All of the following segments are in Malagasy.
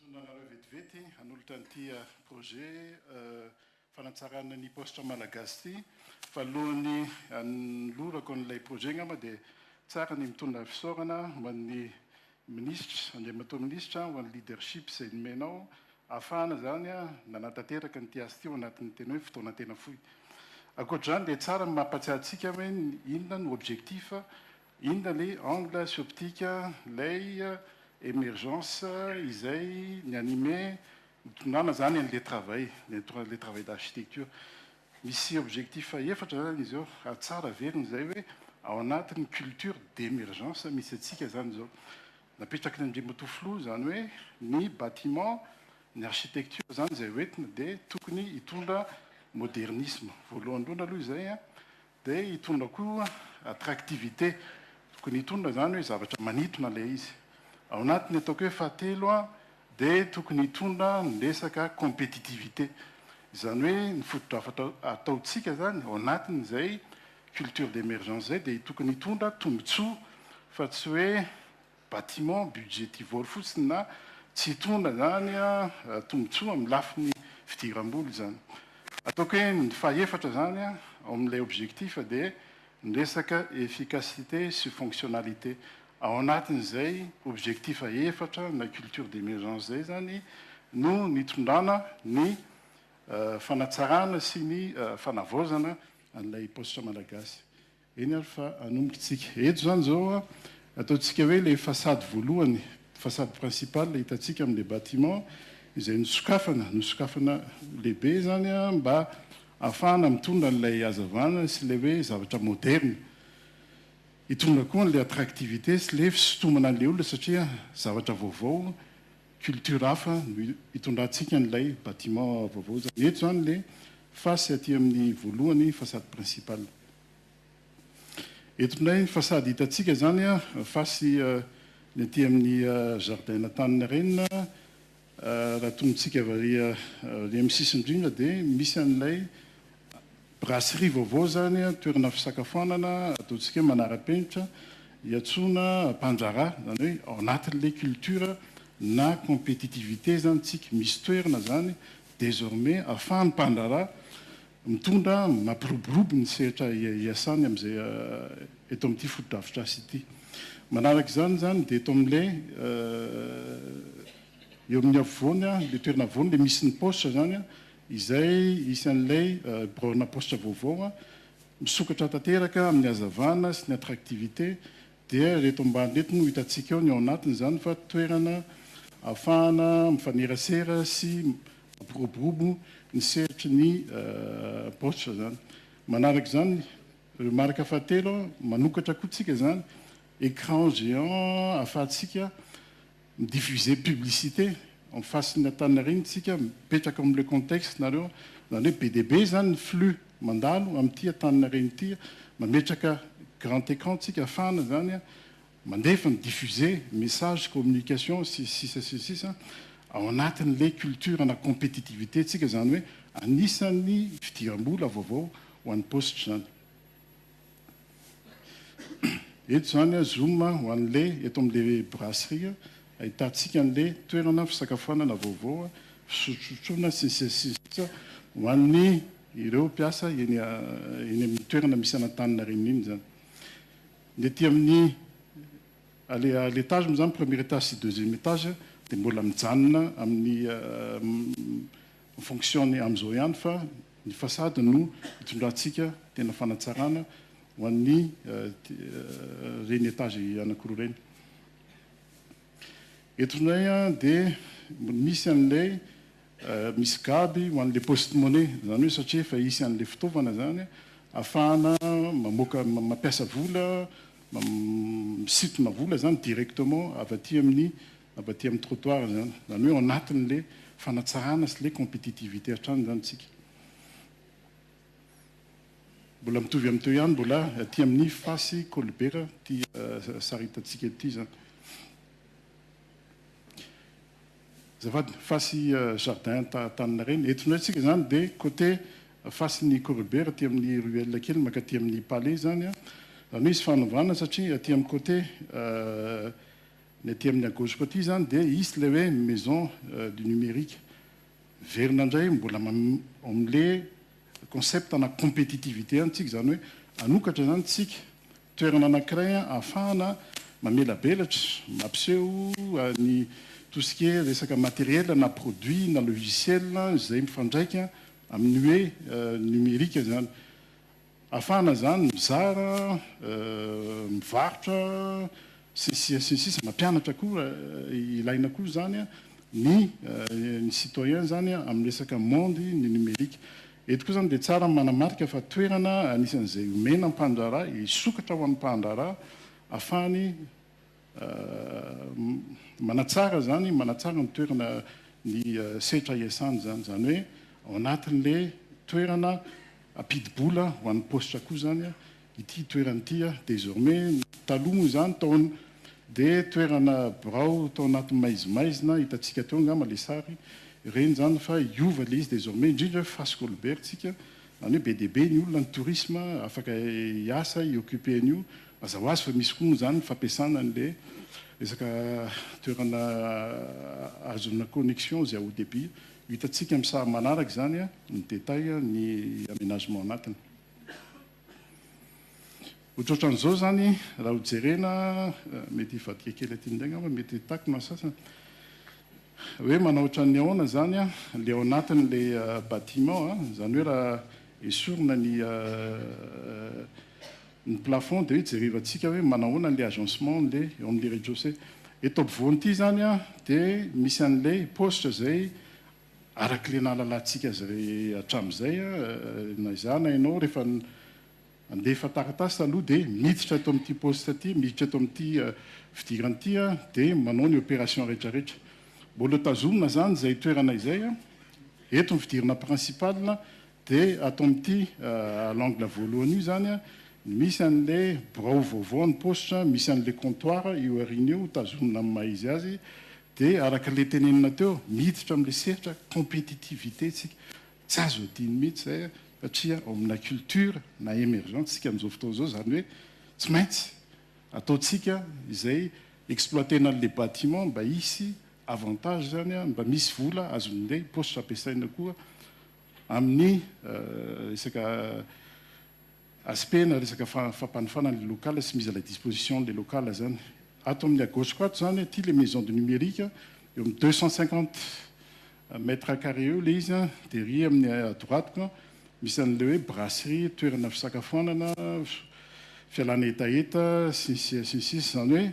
Mitondra anareo vetivety hanolotra an'ity projet fanatsarana ny paositra malagasy ity. Fa alohan'ny hanolorako an'ilay projet angamba dia tsara ny mitondra fisaorana ho an'ny Minisitra, Andriamatoa Minisitra, ho an'ny leadership izay nomenao ahafahana izany nanatanteraka an'ity asa ity ao anatin'ny tena hoe fotoana tena fohy. Ankoatr'izany dia tsara ny mampahatsiahy antsika hoe inona no objectif, inona ilay angle sy optique ilay emergence izay ni-animer, nitondrana izany an'ilay travail, ny anton'ilay travail d'architecture. Misy objectif efatra zany izy eo, ary tsara averina izay hoe ao anatin'ny culture d'emergence misy antsika zany izao. Napetraky ny Andriamatoa Filoha izany hoe ny bâtiment, ny architecture izany izay hoentina dia tokony hitondra modernisme. Voalohany indrindra aloha izay an! Dia hitondra koa attractivité, tokony hitondra izany hoe zavatra manitona ilay izy. Ao anatin'ny ataoko hoe fahatelo dia tokony hitondra ny resaka compétitivité. Izany hoe ny fotodrafatra ataontsika izany ao anatin'izay culture d'émergence izay dia tokony hitondra tombontsoa fa tsy hoe bâtiment, budgetivore fotsiny na tsy hitondra izany tombotsoa amin'ny lafiny fidiram-bola izany. Ataoko hoe ny fahefatra izany ao amin'ilay objectif dia ny resaka efficacité sy fonctionnalité. Ao anatin'izay objectif efatra na culture d'émergence izay izany no nitondrana ny fanatsarana sy ny fanavaozana an'ilay paositra malagasy. Eny ary fa hanomboka isika. Eto izany izao ataontsika hoe ilay façade voalohany, façade principale ilay hitantsika amin'ilay bâtiment izay nosokafana, nosokafana lehibe izany mba hahafahana mitondra an'ilay hazavana sy ilay hoe zavatra moderne. Hitondra koa an'ilay attractivité sy ilay fisintomana an'ilay olona satria zavatra vaovao. culture hafa no hitondrantsika an'ilay bâtiment vaovao izany. Eto izany ilay face aty amin'ny voalohany, façade principale. Eto indray ny façade hitantsika izany face ny aty amin'ny jardin Antaninarenina. Raha tongotsika avy ary amin'ny sisin-drindra dia misy an'ilay Brasserie vaovao izany, toerana fisakafoanana ataontsika hoe manara-penitra, iantsoana mpandraharaha, izany hoe ao anatin'ilay culture na compétitivité izany isika. Misy toerana izany désormais ahafahan'ny mpandraharaha mitondra, mampiroborobo ny sehatra iasany amin'izay eto amin'ity fotodrafitrasa ity. Manaraka izany izany dia eto amin'ilay eo amin'ny afovoany, ilay toerana afovoany, ilay misy ny paositra izany, izay isan'ilay biraona paositra vaovao misokatra tanteraka amin'ny hazavana sy ny attractivité, dia ireto ambany ireto no hitantsika ao ny ao anatiny izany fa toerana ahafahana mifanerasera sy mampiroborobo ny sehatry ny paositra izany. Manaraka izany, remarque fahatelo, manokatra koa isika izany écran géant ahafahantsika mi diffuser publicité en face ny Antaninarenina tsika mipetraka am le contexte nareo zany hoe be dia be zany ny flux mandalo amty Antaninarenina ity mametraka grand écran tsika afahana zany mandefa mi diffuser message communication sy ny sisa sy ny sisa ao anatin le culture na compétitivité tsika zany hoe anisany fidirambola vaovao ho any poste zany. Eto izany a zoom a ho an'le eto amin'le brasserie ahitantsika an'le toerana fisakafoanana vaovao a, fisotrosotroana sy ny sisa sy ny sisa ho an'ny ireo mpiasa eny eny amin'ny toerana misy an'Antaninarenina iny izany. Ny aty amin'ny à l'é à l'étage moa izany premier étage sy deuxième étage dia mbola mijanona amin'ny En fonction ny amin'izao ihany fa ny façade no itondrantsika tena fanatsarana ho an'ny ireny étage anakiroa ireny. Eto indray dia misy an'ilay misy gaby ho an'ilay poste money, izany hoe satria efa hisy an'ilay fitaovana izany ahafahana mamoaka mampiasa vola, misintona vola izany directement avy aty amin'ny Mba aty amin'ny trottoir izany, izany hoe ao anatin'ilay fanatsarana sy ilay competitivité hatrany izany isika. Mbola mitovy amin'ny teo ihany, mbola aty amin'ny fasy kolibera ity sary hitantsika ity izany. Azafady, fasy jardin Taninarenina. Eto indray isika izany dia côté fasin'ny kolibera aty amin'ny ruelle kely mankaty amin'ny palais izany. Izany hoe hisy fanovana satria aty amin'ny côté Ny aty amin'ny à gauche-ko aty izany dia hisy ilay hoe maison du numérique. Miverina indray mbola ao amin'ilay concept ana compétitivité ihany isika, izany hoe hanokatra izany isika toerana anankiray ahafahana mamelabelatra, mampiseho ny tout ce qui est resaka matériel na produit na logiciel izay mifandraika amin'ny hoe numérique izany. Afahana izany mizara, mivarotra, sy ny sisa sy ny sisa, mampianatra koa, ilaina koa izany ny ny citoyen izany amin'ny resaka monde ny numérique. Eto koa izany dia tsara ny manamarika fa toerana anisan'izay omena ny mpandraharaha hisokatra ho an'ny mpandraharaha afahany Manatsara izany, manatsara ny toerana ny setra iasany izany. Izany hoe ao anatin'ilay toerana ampidi-bola ho an'ny paositra koa izany ity toerana ity. Désormais, taloha moa izany tao dia toerana birao tao anaty maizimaizina, hitantsika teo angamba ilay sary, ireny izany fa hiova ilay izy désormais, indrindra hoe Face Colbert-tsika, izany hoe be dia be ny olona, ny tourisme afaka hiasa, hi-occuper an'io, Aza ho azy fa misy koa moa izany ny fampiasana an'ilay resaka toerana ahazoana connexion izay haut débit. Ho hitantsika amin'ny sary manaraka izany ny détail ny aménagement anatiny. Ohatrohatran'izao izany raha ho jerena, mety hivadika kely aty indray angamba, mety ho takona ny sasany. Hoe manao ohatran'ny ahoana izany ilay ao anatin'ilay bâtiment, izany hoe raha esorina ny ny plafond dia jerevantsika hoe manahoana an'ilay agencement an'ilay eo amin'ilay rez-de-chaussée. Eto ampovoany ity izany dia misy an'ilay paositra izay arak'ilay nahalalantsika azy hatramin'izay na izaho na ianao rehefa nandefa taratasy taloha dia miditra eto amin'ity paositra ity, miditra eto amin'ity fidirana ity dia manao ny opération rehetrarehetra. Mbola tazomina izany izay toerana izay, eto ny fidirana principal Dia ato amin'ity à l'angle voalohany io izany an, misy an'ilay birao vaovao an'ny paositra, misy an'ilay comptoir eo aoriana eo tazonina amin'ny maha izy azy, dia araka ilay tenenina teo, miditra amin'ilay sehatra compétitivité isika, tsy azo adino mihitsy izay an, satria ao amina culture na emergente isika amin'izao fotoana izao, izany hoe tsy maintsy ataontsika izay exploiter-na an'ilay bâtiment mba hisy avantage izany an, mba misy vola azon'ilay paositra ampiasaina koa. Amin'ny resaka aspect-na resaka fampanofana ilay local sy mise à la disposition ilay local izany. Ato amin'ny à gauche-ko ato izany, aty ilay maison du numérique, eo amin'ny deux cent cinquante mètres carrés eo ilay izy, dia ery amin'ny à droite-ko misy an'ilay hoe brasserie, toerana fisakafoanana, fialana hetaheta, sy ny sisa sy ny sisa. Izany hoe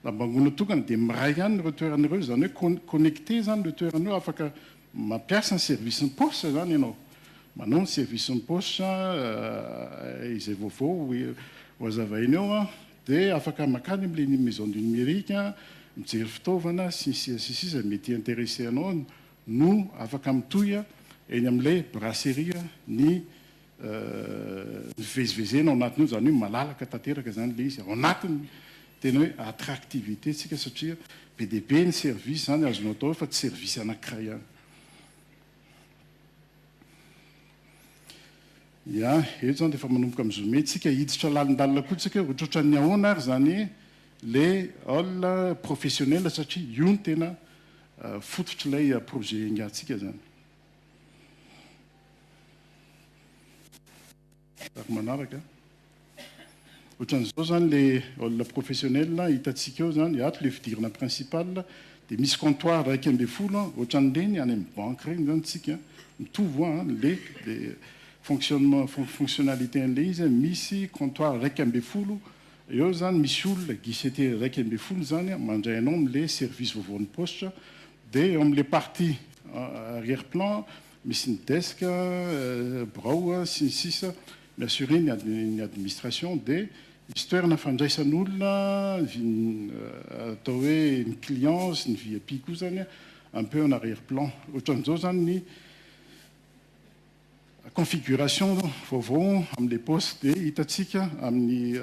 Lambangoana tokana dia miray ihany ireo toerana ireo, izany hoe connecté izany ireo toerana ireo, afaka mampiasa ny service ny paositra izany ianao, manao ny service ny paositra izay vaovao ho azavaina eo an, dia afaka makany amin'ilay ny maison du numérique mijery fitaovana sy ny sisa sy ny sisa mety hi-interesser anao no afaka mitohy eny amin'ilay brasserie ny Nivezivezena ao anatin'io izany hoe malalaka tanteraka izany ilay izy ao anatin'ny tena hoe attractivité ntsika satria be dia be ny service izany azonao atao eo fa tsy service anankiray ihany. Ya, eto izany dia efa manomboka mi-zoomer ntsika, hiditra lalindalina koa ntsika hoe ohatrohatran'ny ahoana ary izany ilay hall professionnel satria io no tena fototr'ilay projet engahantsika izany. Ary manaraka ohatran'izao zany le olona professionnel hitantsika eo zany ato le fidirana principal de misy comptoir iraika ambin'ny folo an ohatran'ireny any amin'ny banky ireny zany tsika mitovy hoa an le le fonctionnement fonctionnalité an'le izy an misy comptoir iraika ambin'ny folo eo zany misy olona guichetier iraika ambin'ny folo zany an mandray anao am'le service vaovaon'ny paositra Dia eo amin'ilay partie arrière plan misy ny desk, birao sy ny sisa mi-assurer ny administration dia misy toerana fandraisan'olona atao hoe ny client sy ny vip koa izany un peu en arrière plan. Ohatran'izao izany ny. Configuration vaovao amin'ilay poste dia hitantsika amin'ny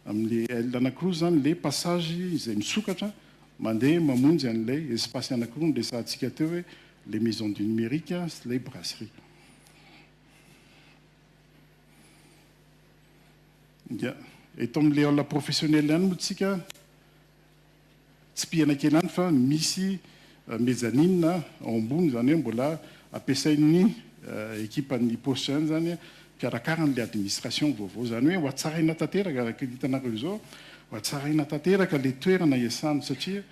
amin'ilay aile anankiroa izany ilay passage izay misokatra mandeha mamonjy an'ilay espace anankiroa niresahantsika teo hoe ilay maison du numérique sy ilay brasserie. Dia eto amin'ilay aula professionnelle ihany moa isika tsipihana kely any fa misy mezzanine ao ambony izany hoe mbola ampiasain'ny ekipan'ny Pôsy ihany izany mpiarakara an'ilay administration vaovao. Izany hoe hohatsaraina tanteraka, araka ny hitanareo izao, hohatsaraina tanteraka ilay toerana hiasana satria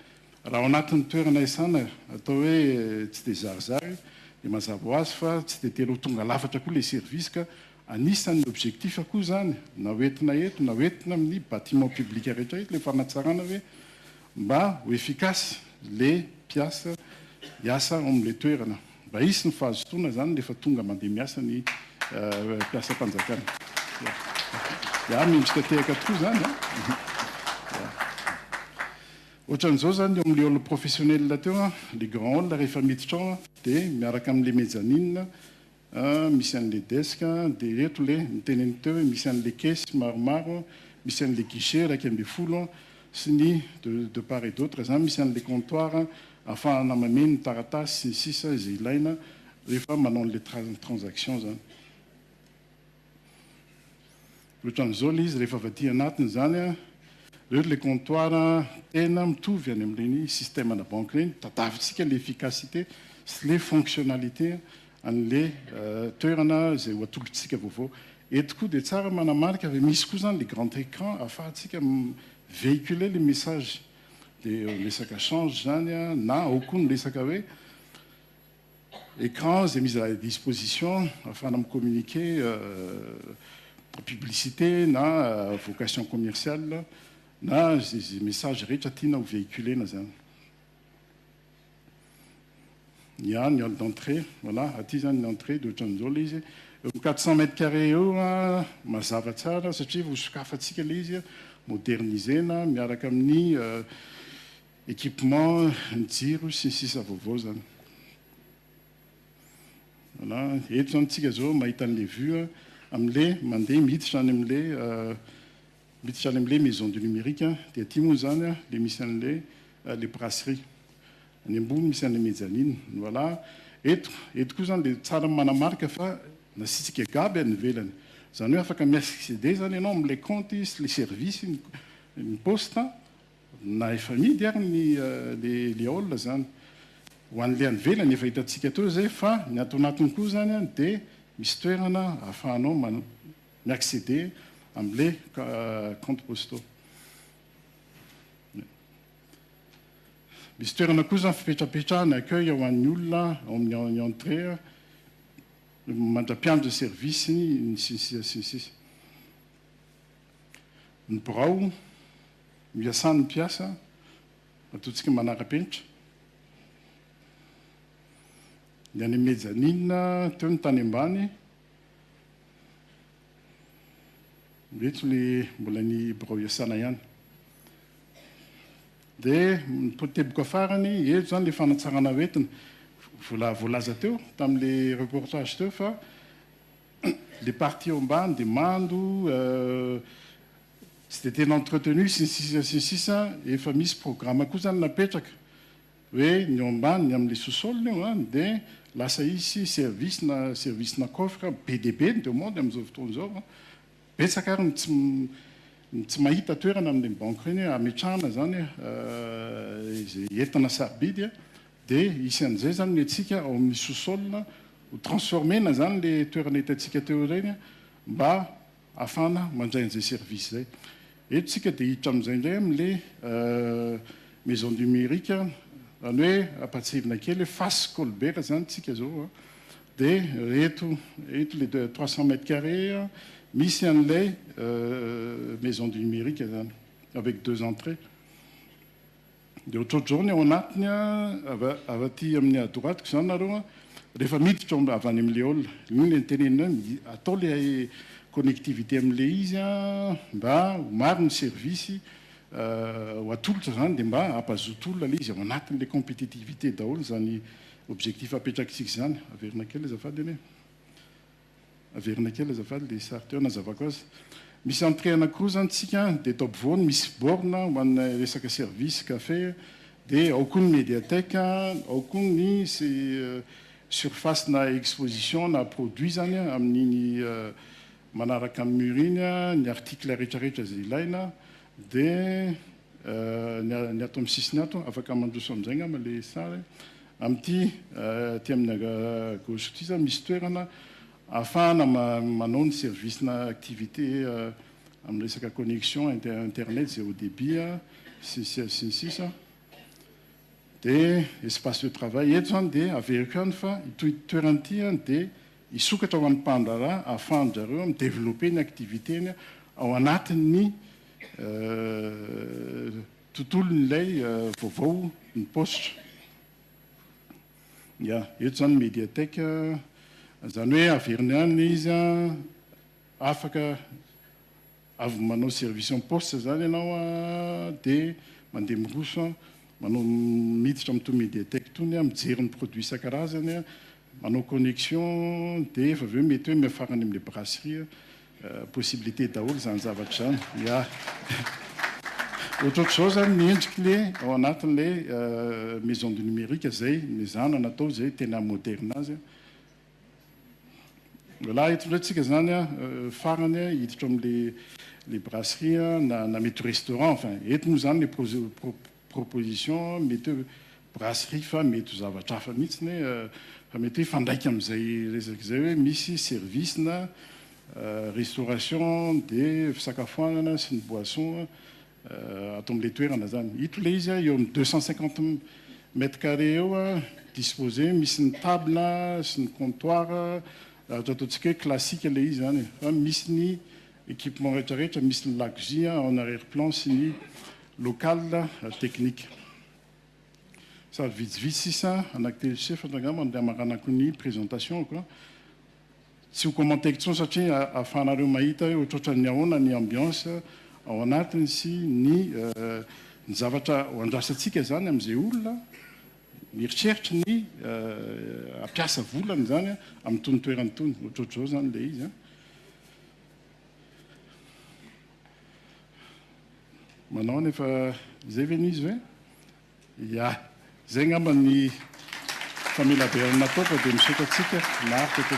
raha ao anatin'ny toerana hiasana atao hoe tsy dia zarizary dia mazava ho azy fa tsy dia tena ho tonga lafatra koa ilay service ka Anisan'ny objectif koa izany na ho entina eto na ho entina amin'ny bâtiments publics rehetra eto ilay fanatsarana hoe mba ho efficace ilay mpiasa hiasa ao amin'ilay toerana. Mba hisy ny fahazotoana izany rehefa tonga mandeha miasa ny mpiasam-panjakana. Ya, mendrika tehaka tokoa izany an! Ohatran'izao izany eo amin'ilay hall professionnel teo an, ilay grand hall rehefa miditra ao dia miaraka amin'ilay mezzanine An, misy an'le desk an, de eto le niteny an'i Teo hoe misy an'le caisse maromaro an, misy an'le guichet iraika ambin'ny folo an, sy ny de de part et d'autre zany, misy an'le comptoir an, ahafahana mameno ny taratasy sy ny sisa izay ilaina rehefa manao an'le tra transaction zany. Ohatran'izao ilay izy rehefa avy aty anatiny izany an, ireo ilay comptoir tena mitovy any amin'ireny système ana banque ireny, tadiavintsika ilay efficacité sy ilay fonctionnalité an'ilay toerana izay ho atolotr'isika vaovao. Eto koa dia tsara manamarika fa misy koa izany ilay grand écran ahafahantsika mi-véhiculer ilay message. Dia resaka change izany an, na ao koa ny resaka hoe écran izay mise à la disposition ahafahana mi-communiquer publicité na vocation commerciale na izay message rehetra tiana ho véhiculer-na izany. Ny ahy ny hall d'entrée voilà aty izany ny entrée dia ohatran'izao ilay izy, eo amin'ny quatre cent mètres carrés eo mazava tsara satria ho sokafantsika ilay izy moderniser-na miaraka amin'ny Equipements, ny jiro sy ny sisa vaovao zany. Voilà, eto zany tsika zao mahita an'le vue a, am'le mandeha miditra any am'le miditra any am'le maison du numérique, de aty moa zany a le misy an'le le brasserie. Any ambony misy an'le mezzanine, voilà. Eto, eto koa zany le tsara manamarika fa nasiantsika gaby any ivelany. Zany hoe afaka mi-acceder zany ianao am'le kaonty sy le service ny poste. Na efa amidy ary ny le le aola izany ho an'le any ivelany efa hitantsika teo izay fa ny ato anatiny koa izany any dia misy toerana ahafahanao mi acceder amle compte postaux. Misy toerana koa izany fipetrapetrahana accueil ho an'ny olona ao amin'ny entrée mandra-piandry ny service ny sy ny sisa sy ny sisa. Ny birao. Miasà ny mpiasa, matoantsika manara-penitra. Ny any Mezzanine teo ny tany ambany. Ireto ilay mbola ny birao iasana ihany. Dia ny teboka farany, eto izany ilay fanatsarana ho entina. Vola voalaza teo tamin'ilay reportage teo fa ilay partie eo ambany dia mando, tsy dia tena entretenu sy ny sisa sy ny sisa efa misy programa koa zany napetraka hoe ny ao ambany ny amin'ny sous-sol io a dia lasa hisy service na service na coffre be dia be ny demande amin'izao fotoana izao a betsaka ary ny tsy ny tsy mahita toerana amin'ireny banky ireny hoe hametrahana zany izay entana sarobidy a dia hisy an'izay zany ny antsika ao amin'ny sous-sol ho transformer-na zany le toerana hitantsika teo ireny a mba afana mandray an'izay service zay. Eto tsika dia hiditra amin'izay indray amin'ny le maison du mérite zany hoe ampatsivina kely hoe face Colbert zany tsika zao a. Dia eto eto le trois cents mètres carrés misy an'ilay maison du numérique zany avec deux entrées. Dia ohatrohatr'izao ny ao anatiny an, avy avy aty amin'ny à droite-ko izany nareo an, rehefa miditra ao avy any amin'ilay hall, iny ilay nitenenina hoe atao ilay connectivité amin'ilay izy an, mba ho maro ny service ho atolotra izany dia mba hampazoto olona ilay izy ao anatin'ilay compétitivité daholo izany objectif apetrakitsika izany. Averina kely azafady anie. Averina kely azafady ilay sary teo anazavako azy. Misy entrée anakiroa zany tsika dia eto ampovoany misy borne ho an'ny resaka service café dia ao koa ny mediathèque ao koa ny surface na exposition na produit zany amin'iny manaraka ny mur iny ny article retraretra izay ilaina dia ny ato amin'ny sisiny ato, afaka mandroso amin'izay angamba le sary e. Amin'ity aty amin'ny gauche ity izany misy toerana ahafahana manao ny service na activité amin'ny resaka connexion internet zay haut débit sy sy ny sisa. Dia espace de travail eto izany dia averiko ihany fa ity toerana ity dia Hisokatra ho an'ny mpandraharaha ahafahan-dry zareo mi-developper ny activité-ny ao anatin'ny tontolon'ilay vaovao ny paositra. Ya, eto izany ny Mediatek, izany hoe averiny any ilay izy an, afaka avy manao service en poste zany ianao a de mandeha miroso a manao miditra amin'itony mediatek itony a mijery ny produit isan-karazany a manao connexion de efa avy eo mety hoe miafara any amin'ilay brasserie a possibilité daholo izany zavatra izany ya ohatrohatr'izao zany ny endriky le ao anatin'ilay maison du numérique izay mezana natao izay tena moderna azy a Lehilahy eto indray tsika zany a, farany hiditra ao amin'ilay brasserie na mety restaurant, enfin eto moa zany ilay proposition mety hoe brasserie fa mety ho zavatra hafa mihitsy e, fa mety hoe hifandraika amin'izay resaka izay hoe misy service na restauration dia fisakafoanana sy ny boisson ato amin'ilay toerana izany. Ito ilay izy, eo amin'ny deux cent cinquante mètres carrés eo, disposé, misy ny table sy ny comptoir, ohatra ataontsika hoe classique ilay izy izany e, fa misy ny équipement rehetrarehetra, misy ny lakozia en arrière plan sy ny local technique. Sary vitsivitsy sisa, anaky telo sy efatra angamba no niamaranako ny présentation-ko. Tsy ho commenter-ko intsony satria ahafahanareo mahita hoe ohatrohatran'ny ahoana ny ambiance ao anatiny sy ny ny zavatra ho andrasantsika izany amin'izay olona mieritreritra ny hampiasa volany izany amin'itony toerana itony. Ohatrohatr'izao izany ilay izy an. Manao anefa izay ve ny izy ve? Ia. Izay angamba ny famelabelarana nataoko dia misaotra antsika naharitra teto.